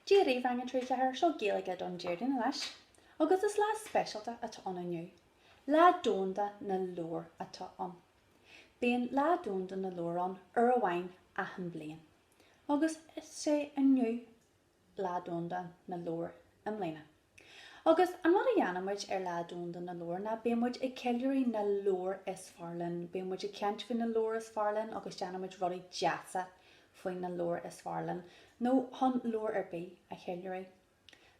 Dia daoibh, Rang 3, 4, Seo Gaeilge don Déardaoin anois agus is lá speisialta atá ann inniu. Lá Domhanda na Leabhar atá ann. Bíonn Lá Domhanda na Leabhar ann uair amháin achan bhliain agus is é inniu Lá Domhanda na Leabhar i mbliana. Agus an rud a dhéanann muid ar Lá Domhanda na Leabhar ná bíonn muid ag ceiliúradh na leabhar is fearr linn, bíonn muid ag caint faoi na leabhair is fearr linn agus déanann muid rudaí deasa faoi na leabhair is fearr linn, nó chun leabhar ar bith a cheiliúradh.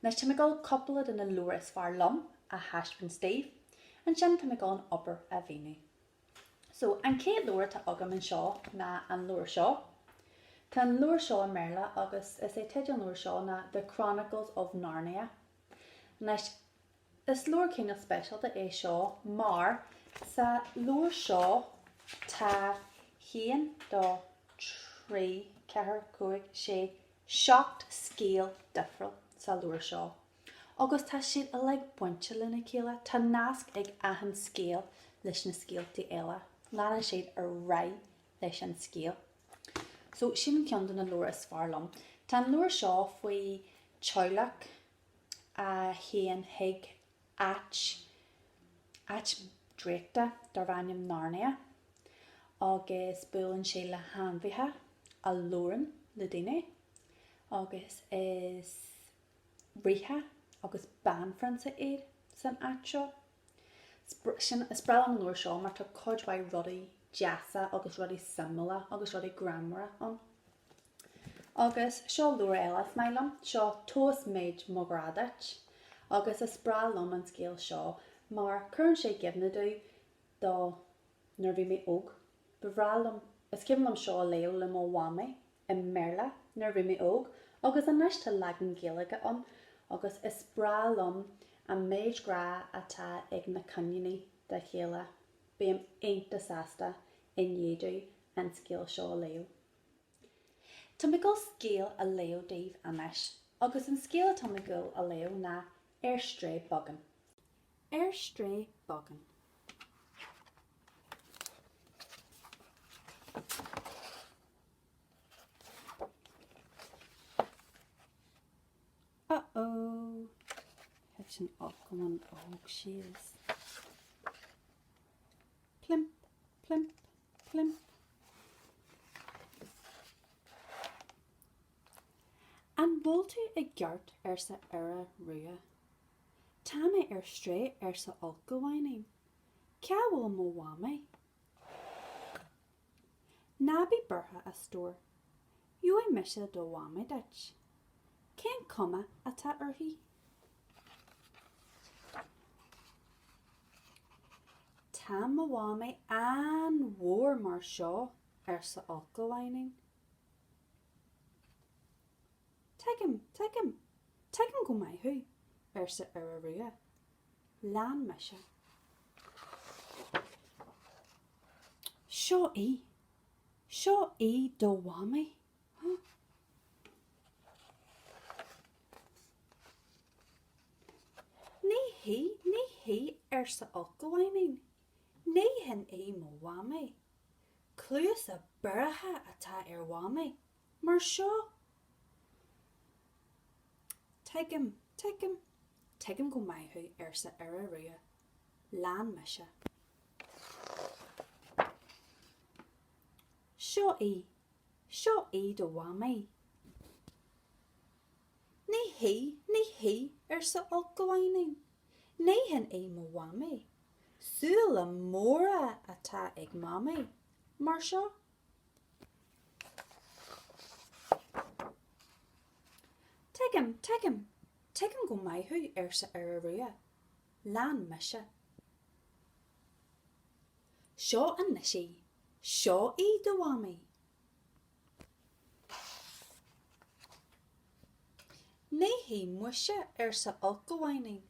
Anois tá mé ag dul cúpla de na leabhair is fearr liom a thaispeáint daoibh, ansin tá mé ag dul an obair a mhíniú. So, an chéad leabhar atá agam anseo ná an leabhar seo. Tá an leabhar seo i mBéarla agus is é teideal an leabhar seo ná The Chronicles of Narnia. Anois, is leabhar cineál speisialta é seo mar sa leabhar seo tá haon, dó, trí, ceathair, cúig, sé, seacht scéal difriúil sa leabhar seo. Agus tá siad uilig bainte lena chéile, tá nasc ag achan scéal leis na scéaltaí eile, leanann siad ar aghaidh leis an scéal. So sin ceann de na leabhair is fearr liom. Tá an leabhar seo faoi teaghlach a théann chuig áit draíochta darb ainm Narnia agus buaileann sé le hainmhithe a labhrann le daoine agus is ríthe agus banphrionsa iad san áit seo. Sin, is breá liom an leabhar seo mar tá cuid mhaith rudaí deasa agus rudaí suimiúla agus rudaí greannmhara ann. Agus seo leabhar eile is maith liom, seo Tomhas Méid Mo Ghrá Duit agus is breá liom an scéal seo mar cuireann sé i gcuimhne domh do nuair a bhí mé óg. Ba bhreá liom, is cuimhin liom seo a léamh le mo mhamaí i mBéarla nuair a bhí mé óg agus anois tá leagan Gaeilge ann agus is breá liom an méid grá atá ag na coiníní dá chéile. Bím iontach sásta i ndiaidh domh an scéal seo a léamh. Tá mé ag dul scéal a léamh daoibh anois agus an scéal atá mé ag dul a léamh ná Ar Strae Beagán. Ar strae beagán. Uh-oh. Thit an t-ulchabhán óg síos. Plimp, plimp, plimp. An bhfuil tú i gceart arsa Iora Rua. Tá mé ar strae arsa Ulchabháinín. Cá bhfuil mo mhamaí? Ná bí buartha a stór. Gheobhaidh mise do mhamaí duit. Cén cuma atá uirthi? Tá mo mhamaí an-mhór mar seo arsa Ulchabháinín. Tuigim, tuigim, tuigim go maith thú, arsa Iora Rua. Lean mise. Seo í. Seo í do mhamaí. Ní hí, ní hí, arsa Ulchabháinín. Ní hin í mo mhamaí. Cluasa bioraithe atá ar mhamaí. Mar seo, Tuigim, tuigim, tuigim go maith thú, arsa Iora Rua. Lean mise. Seo í, seo í do Mhamaí. Ní hí, ní hí, arsa Ulchabháinín. Ní hin í mo Mhamaí. Súile móra atá ag Mamaí. Mar seo. Tuigim, tuigim, tuigim go maith thú, arsa Iora Rua. Lean mise. Seo anois í, seo í do mhamaí. Ní hí muise, arsa Ulchabháinín.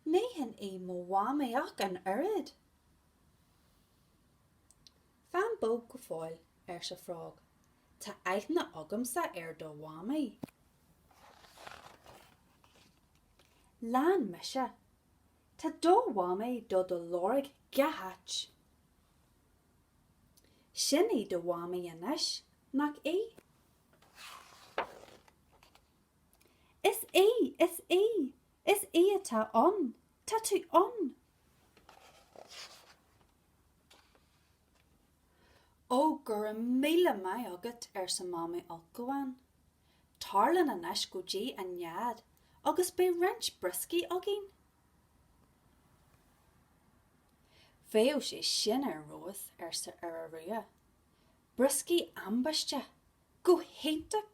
Ní hin í mo mhamaí ach an oiread. Fan bog go fóill, arsa Frog. Tá aithne agamsa ar do Mhamaí. Lean mise. Tá do Mhamaí do do lorg gach áit. Sin í do Mhamaí anois, nach í? Is í! Is í! Is í atá ann! Tá tú ann! Ó, go raibh míle maith agat, arsa Mamaí Ulchabhán. Tar linn anois go dtí an nead agus beidh roinnt brioscaí againn. Bheadh sé sin ar fheabhas, arsa Iora Rua. Brioscaí ambaiste! Go hiontach!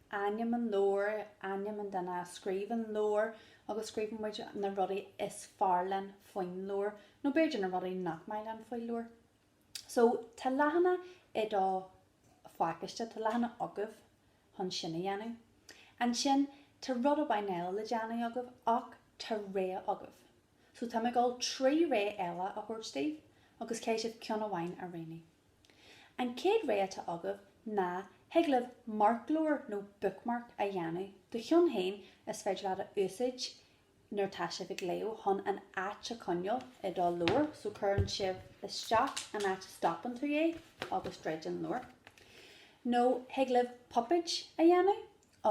ainm an leabhair, ainm an duine a scríobh an leabhar agus scríobhann muid na rudaí is fearr linn faoin leabhar, nó b'fhéidir na rudaí nach maith linn faoin leabhar. So, tá leathanach i do phacáiste, tá leathanach agaibh chun sin a dhéanamh. Ansin, tá rud amháin eile le déanamh agaibh, ach tá rogha agaibh. So, tá mé ag gabháil trí rogha eile a thabhairt daoibh, agus caithfidh sibh ceann amháin a roghnú. An chéad rogha atá agaibh ná thig libh marc leabhair nó bookmark a dhéanamh do cheann féin is féidir leat a úsáid nuair atá sibh ag léamh chun an áit a choinneáil i do leabhar, so cuireann sibh isteach an áit a stopann tú é agus druid an leabhar. Nó thig libh puipéid a dhéanamh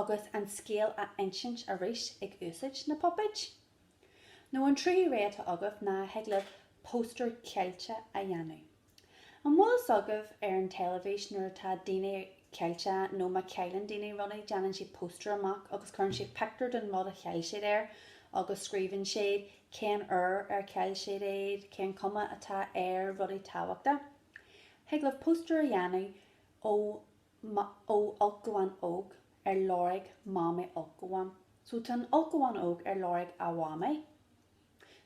agus an scéal a insint arís ag úsáid na puipéid. Nó an tríú rogha atá agaibh ná thig libh póstaer caillte a dhéanamh. An bhfuil fhios agaibh ar an teilifís nuair atá daoine caillte nó má chailleann daoine rudaí déanann siad póstaer amach agus cuireann siad pictiúr den rud a chaill siad air agus scríobhann siad cén uair ar chaill siad iad, cén chuma atá air, rudaí tábhachta. Thig libh póstaer a dhéanamh ó ó ulchabhán óg ar lorg Mamaí Ulchabhán so tá an ulchabhán óg ar lorg a Mhamaí.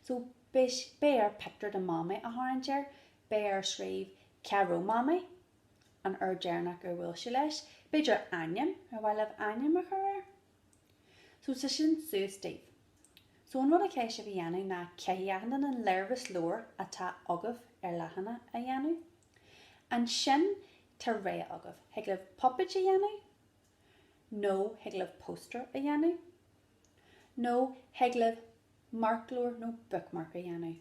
So, beidh, beidh air pictiúr de Mamaí a tharraingt air, beidh air scríobh cá raibh Mamaí, an uair deireanach ar bhuail sí leis, b'fhéidir ainm, ar mhaith libh ainm a chur air? So, tá sin suas daoibh. So, an rud a chaithfidh sibh a dhéanamh ná caithfidh achan duine an léirmheas leabhair atá agaibh ar leathanach a dhéanamh. Ansin tá rogha agaibh. Thig libh puipéid a dhéanamh, nó thig libh póstaer a dhéanamh, nó thig libh marc leabhair nó bookmark a dhéanamh.